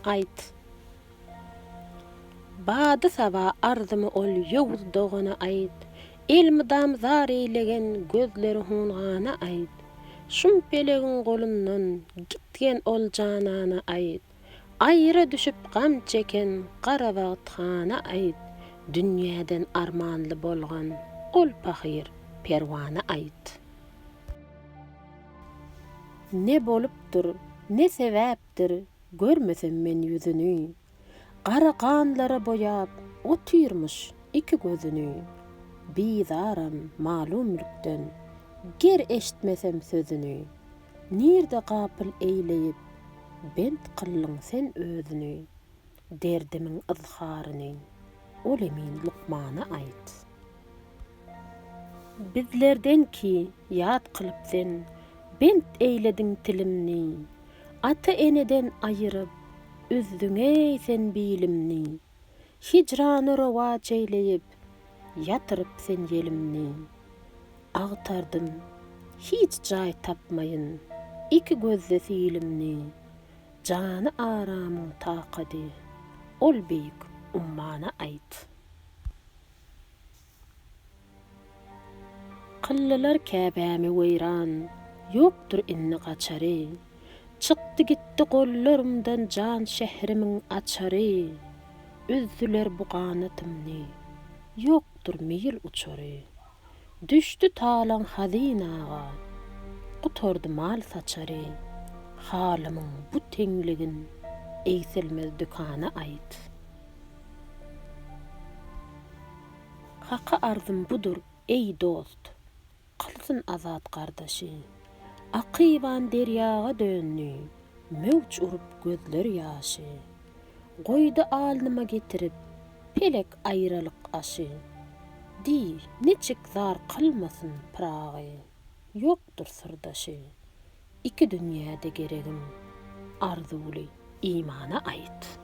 Aýt. Bady-saba arzymy ol ýowuz dogana aýt, Elmydam zar eýlegen gözleri hungana aýt, Şum pelegiň golundan gitgen ol janana aýt, Aýra düşüp gam çeken gara bagt hana aýt, Dünýäden armanly bolgan ol pahyr perwana aýt. Ne bolupdyr, ne sebäpdir, görmesem men ýüzüni. Gara ganlara boýap, otyrmyş iki gözüni. Bizaram malumlykdan, ger eştmesem sözüni. Nirde gapyl eýleýip, bent kyldyň sen özüni. Derdimiň yzharyny ol emin lukmana aýt. Bizlerden ki ýat kylyp sen, bent eýlediň tilimni, Ata-eneden aýyryp, üzdüň-eý sen bilimni, Hijrany rowaç eýleýip, ýatyryp sen ýelimni. Agtardym, hiç jaý tapmaýyn, iki gözde silimni, Jany aramyň takady. Ol beýik ummana aýt. Kyldylar Käbämi weýran. Ýokdur indi gaçary. Çykdy gitdi gollarymdan jan şährimiň açary. Üzdüler bu ganatymny. Ýokdur meýil uçary. Düşdi talaň hazynaga, gutardy mal saçary, Halymyň bu teňligin egsilmez dükana aýt. Haka arzym budur, eý dost, kylsyn azat gardaşy, Akyban derýaga döndi, möwç urup gözler ýaşy. Goýdy alnyma getirip, pelek aýralyk aşy. Diý, niçik zar kylmasyn Pyragy, ýokdur syrdaşy. Iki dünýäde geregim, arzuwly imana aýt.